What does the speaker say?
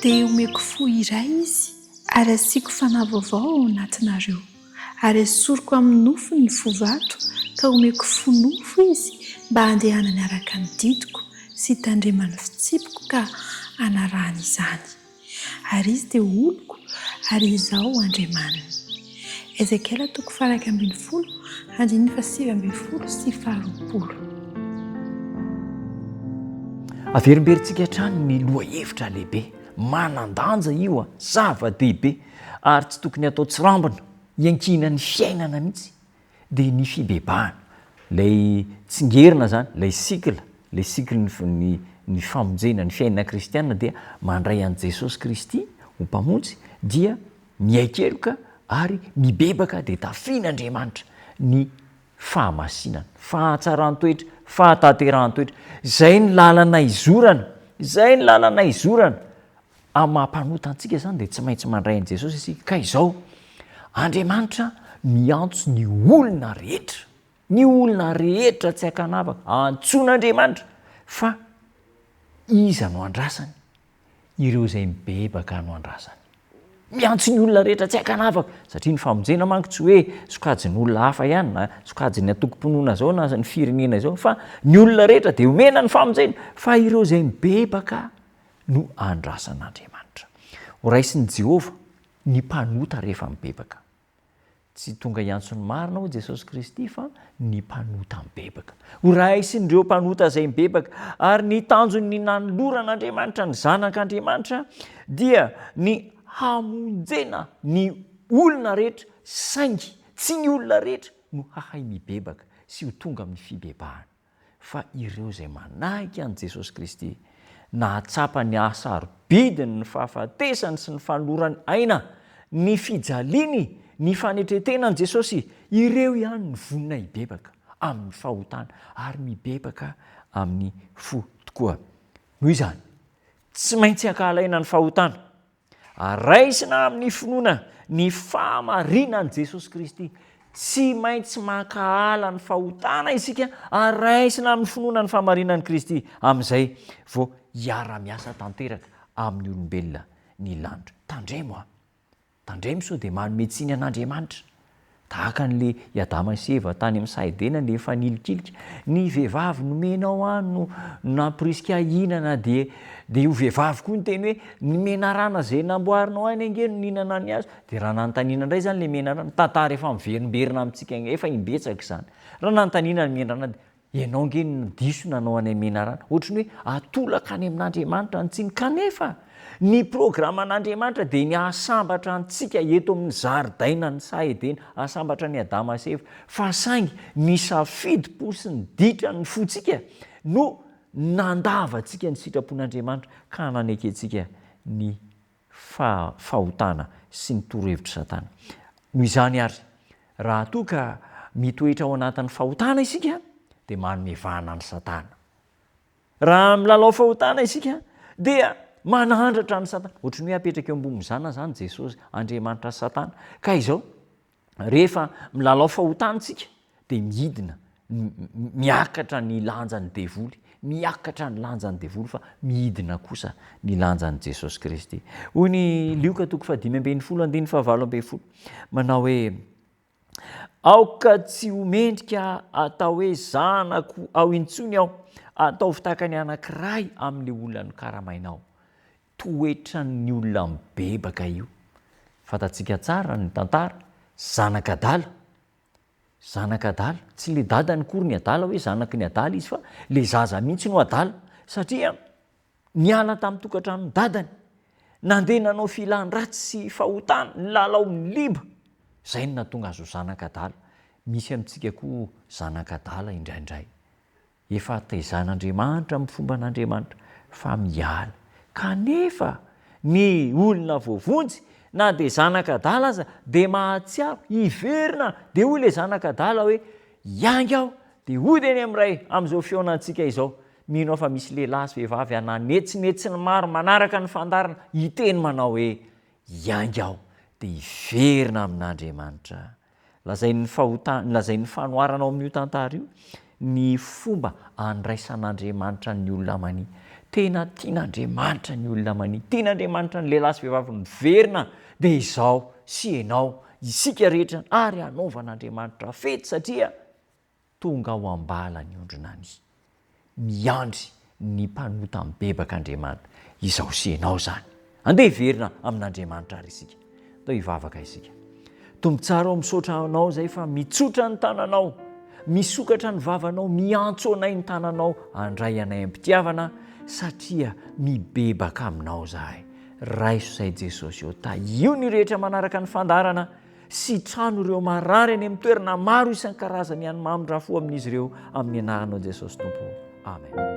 Dia omeko fo iray Izy ary asiako fanahy vaovao ao anatinareo, ary esoriko amin'ny nofony ny fo vato ka omeko fo nofo Izy mba handehanany araka ny didiko sy hitandremany fitsipiko ka hanarahany izany. Ary izy dia oloko, ary Izaho Andriamaniny. Ezekiela toko faha iraika ambin'ny folo, andininy faha sivy ambin'ny folo sy faha roapolo. Averimberintsika hatrany ny lohahevitra lehibe manan-danja io an, zava-dehibe ary tsy tokony hatao tsirambina, iankinan'ny fiainana mihitsy dia ny fibebahana, ilay tsingerina izany, ilay cycle, ilay cycle-n'ny ny famonjena, ny fiainana kristiana dia mandray an'i Jesosy Kristy ho Mpamonjy dia mihaikeloka ary mibebaka dia tafihin'Andriamanitra ny fahamasinana, fahatsaran-toetra, fahatanterahan-toetra. Izay ny lalana izorana, izay ny lalana izorana. Amin'ny maha mpanota antsika izany dia tsy maintsy mandray an'i Jesosy isika. Ka izao, Andriamanitra miantso ny olona rehetra, ny olona rehetra tsy an-kanavaka, antsoin'Andriamanitra, fa Iza no andrasany? Ireo izay mibebaka no andrasany. Miantso ny olona rehetra tsy an-kanavaka, satria ny famonjena manko tsy hoe sokajin'olona hafa ihany, na sokajin'ny antokom-pinoana izao na ny firenena izao, fa ny olona rehetra dia omena ny famonjena, fa ireo izay mibebaka no andrasan'Andriamanitra. Horaisin'i Jehovah ny mpanota rehefa mibebaka. Tsy tonga hiantso ny marina hoy Jesosy Kristy fa ny mpanota mibebaka. Horaisin'ireo mpanota izay mibebaka, ary ny tanjon'ny nanoloran'Andriamanitra ny Zanak'Andriamanitra dia ny hamonjena ny olona rehetra, saingy tsy ny olona rehetra no hahay mibebaka sy ho tonga amin'ny fibebahana. fa ireo izay manahika an'i Jesosy Kristy, nahatsapa ny haha-sarobidiny ny fahafatesany sy ny fanolorany aina, ny fijaliany, ny fanetren-tenan'i Jesosy, ireo ihany no vonona hibebaka amin'ny fahotana ary mibebaka amin'ny fo tokoa. Noho izany, tsy maintsy ankahalaina ny fahotana. ary raisina amin'ny finoana ny fahamarinan'i Jesosy Kristy. Tsy maintsy mankahala ny fahotana isika ary raisina amin'ny finoana ny fahamarinan'i Kristy, amin'izay vao hiara-miasa tanteraka amin'ny olombelona ny lanitra. Tandremo an! Tandremo sao dia manome tsiny an'Andriamanitra. Tahaka an'le i Adama sy Eva tany amin'ny saha Edena le efa nilikilika, ny vehivavy nomenao ahy no nampirisika ahy hihinana dia dia io vehivavy koa niteny hoe ny menarana izay namboarinao ahy ange no nihinana ny hazo, dia raha nanontaniana indray izany le menarana, tantara efa miverimberina amintsika efa imbetsaka izany, raha nanontaniana ny menarana dia Ianao ange no diso nanao anay menarana. Ohatry ny hoe atolaka any amin'Andriamanitra ny tsiny. Kanefa, ny programan'Andriamanitra dia ny hahasambatra antsika eto amin'ny zaridainan'ny saha Edena, hahasambatra an'i Adama sy Eva. Fa saingy ny safidim-po sy ny ditran'ny fontsika no nandavantsika ny sitrapon'Andriamanitra ka nanekentsika ny fa fahotana sy ny torohevitr'i Satana. Noho izany àry, raha toa ka mitoetra ao anatin'ny fahotana isika, dia manome vahana an'i Satana. Raha milalao fahotana isika, dia manandratra an'i Satana. Hoatry ny hoe apetraka eo ambonin'ny zanany izany Jesosy, Andriamanitra sy Satana. Ka izao, rehefa milalao fahotana isika dia midina, miakatra ny lanjan'ny devoly, miakatra ny lanjan'ny devoly fa midina kosa ny lanjan'i Jesosy Kristy. Hoy ny Lioka toko fahadimy ambin'ny folo andininy fahavalo ambin'ny folo, manao hoe, Aoka tsy ho mendrika atao hoe zanako ao intsony aho, ataovy tahaka ny anankiray amin'ilay olona nokaramainao. Toetran'ny olona mibebaka io. Fantatsika tsara ny tantara, zanak'adala. Zanak'adala. Tsy ilay dadany akory ny adala hoe zanaky ny adala izy fa ilay zaza mihitsy no adala satria niala tamin'ny tokantranon'ny dadany, nandeha nanao filan-dratsy sy fahotana, nilalao amin'ny liba, izay no nahatonga azy ho zanak'adala. Misy amintsika koa zanak'adala indraindray. Efa hataizahan'Andriamanitra amin'ny fomban'Andriamanitra fa miala. Kanefa, ny olona voavonjy, na dia zanak'adala aza, dia mahatsiaro, hiverina, dia hoy ilay zanak'adala hoe, Hiainga aho, dia hody eny amin'ny Ray, amin'izao fihaonantsika izao. Mino aho fa misy lehilahy sy vehivavy hananetsinetsin'ny maro manaraka ny fandaharana, hiteny manao hoe, Hiainga aho, dia hiverina amin'Andriamanitra aho. Lazain'ny fahota, lazain'ny fanoharana ao amin'io tantara io ny fomba andraisan'Andriamanitra ny olona mania. Tena tian'Andriamanitra ny olona mania. Tian'Andriamanitra ny lehilahy sy vehivavy miverina dia izaho sy ianao, isika rehetra ary hanaovan'Andriamanitra fety satria, Tonga ao am-bala ny ondrinany. Miandry ny mpanota mibebaka Andriamanitra. Izao sy ianao izany. Andeha hiverina amin'Andriamanitra ary isika. Andao hivavaka isika. Tompo tsara ô, misaotra Anao izay fa mitsotra ny tananao, misokatra ny vavanao, miantso anay ny tananao handray anay am-pitiavana satria mibebaka Aminao izahay. Raiso izay Jesosy ô. Tahio ny rehetra manaraka ny fandaharana. sy trano ireo marary any amin'ny toerana maro isan-karazany ihany mamindra fo amin'izy ireo amin'ny anaranao Jesosy Tompo. Amen.